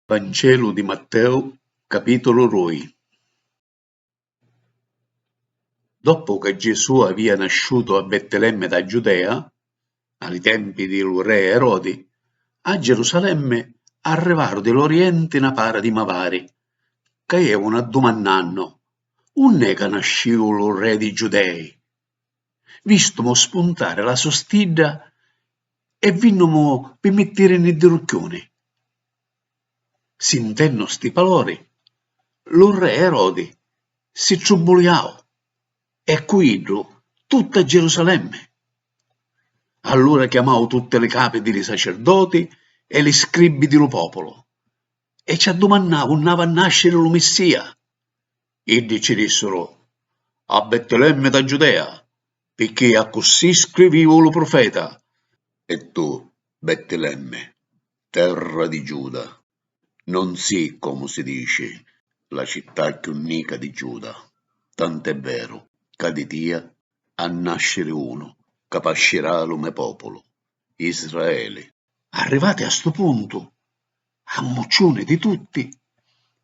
Vancelu di Matteu, capitulu rui. Doppu ca Gesù avìa nasciutu a Bettelemmi dâ Giudea, a li tempi di lu re Erodi, a Gerusalemmi arrivaru di l'Orienti na para di mavari, ca jevunu addumannannu, Unn'è ca nascìu lu re dî Giudei? Vistumu spuntari la so stidda e vinnumu pi mittirini ddi rucchiuni. Sintennu sti palori, lu Rre Erodi si trubbuliau e cu iddu tutta Gerusalemmi. Allura chiamau tutti li capi di li sacerdoti e li scribbi di lu populu e ci addumannau unni avi a nasciri lu Missia. Iddi ci dissuru, A Bettilemmi dâ Giudea, picchì accussì scrivìu lu prufeta. E tu, Bettilemmi, terra di Giuda, non si', comu si dici, la città cchiù nica di Giuda, tant'è veru ca di tia ha nasciri unu ca pascirà lu me pòpulu, Israeli. Arrivati a stu puntu, ammucciuni di tutti,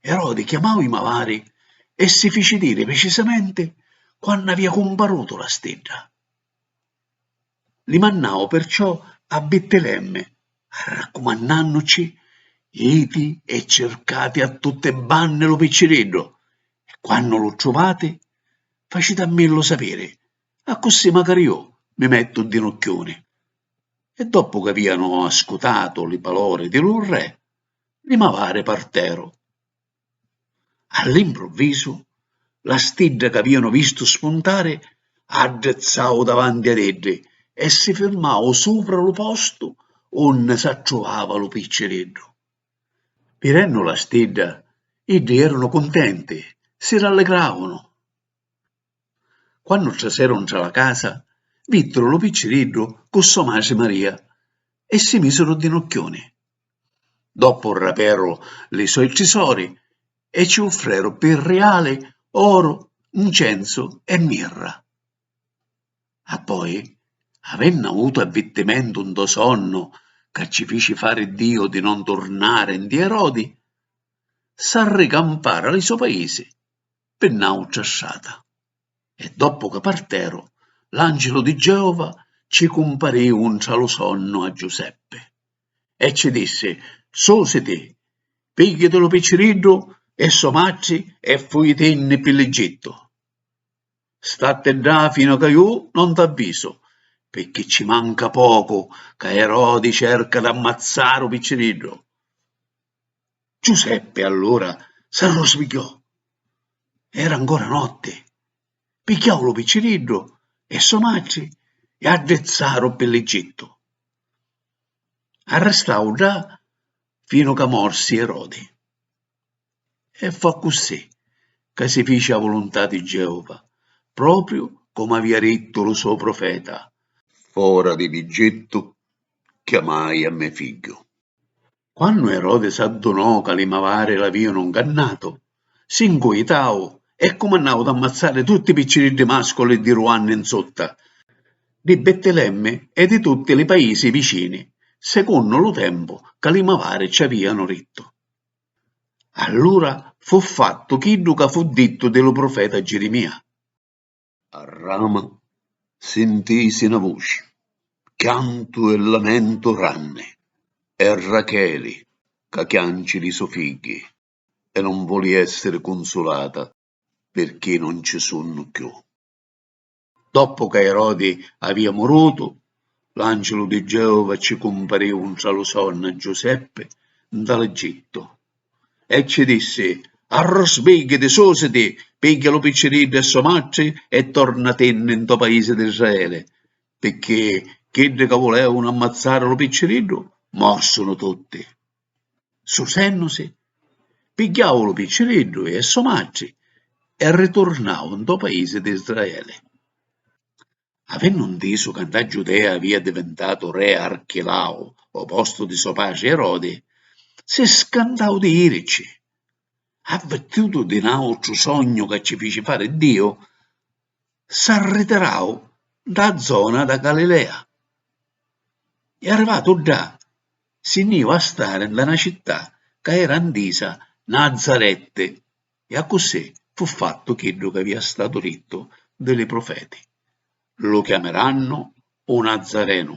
Erodi chiamau i mavari e si fici diri pricisamenti quannu avia cumparutu la stidda. Li mannau perciò a Bittilemmi, arraccumannannucci, Jiti e circati a tutti i banni lu picciriddu, e quannu lu truvati, facitammillu sapiri Accussì macari ju mi mettu un dinucchiuni. E doppu c'avianu ascutatu li palori di lu Re, li mavari parteru. All'improvvisu, la stidda c'avianu vistu spuntari addrizzau davanti ad iddi e si firmau supra lu postu unni s'attruvava lu picciriddu. Vidennu la stidda, iddi eranu cuntenti, si ralligravanu. Quannu traseru ntra la casa, viddru lu picciriddu cu so matri Maria e si misiru di nucchiuni. Doppu raperu li soi trisori e ci uffreru pi riali oru, ncenzu e mirra. Appoi, avennu avutu avvirtimentu ntô sonnu ca ci fici fari Diu di non turnari nti Erodi, s'arricamparu a li so paisi. pi n'àutra strata. E doppu ca parteru, l'àncilu di Geova ci cumparìu ntra lu sonnu a Giuseppi, e ci dissi, Susiti, pigghiati lu picciriddu e so matri e fujitinni pi l'Egittu. Statti ddà finu ca ju non t'avvisu, pirchì ci manca pocu ca Erodi cerca d'ammazzari u picciriddu. Giuseppe allura s'arrusbigghiò. Era ancora notti. Pigghiau lu picciriddu e so matri e addrizzaru pi l'Egittu. Arristau ddà finu ca morsi Erodi. E fu accussì ca si fici a vuluntà di Geova, propriu comu avia dittu lu so profeta. Fora di l'Egittu chiamai a me figghiu. Quannu Erodi s'addunò ca li mavari l'avìanu ngannatu, si ncuitau e cumannau d'ammazzari tutti i picciriddi màsculi di dui anni 'n sutta, di Bettilemmi e di tutti li paisi vicini, secunnu lu tempu ca li mavari ci avìanu dittu. Allura fu fattu chiddu ca fu dittu di lu prufeta Girimìa. A rama sintisi na vuci, chiantu e lamentu ranni, è Racheli ca chianci li so figghi e non voli essiri cunsulata pirchì non ci sunnu cchiù. Doppu ca Erodi avia murutu, l'angilu di Geova ci cumpariu ntra lu sonnu a Giuseppi nta l'Egittu. E cci dissi, Arrusbìggiti, sùsiti, pigghia lu picciriddu e so matri e tornatinni ntô paisi d'Israeli, pirchì chiddi ca vulèvunu ammazzari lu picciriddu mòrsunu tutti. Susènnusi, pigghiau lu picciriddu e so matri e riturnau ntô paisi d'Israeli. Avennu ntisu ca nta Giudea avia divintatu re Archilau ô postu di so patri Erodi, si scantau di jirici. Avvirtutu di n'àutru sognu ca ci fici fari Diu, s'arritirau nta â zona dâ Galilea e arrivatu ddà si nni jìu a stari nta na città ca era ntisa Nazaretti. E accussì fu fattu chiddu c'avìa statu dittu di li prufeti, Lu chiamirannu u Nazzarenu.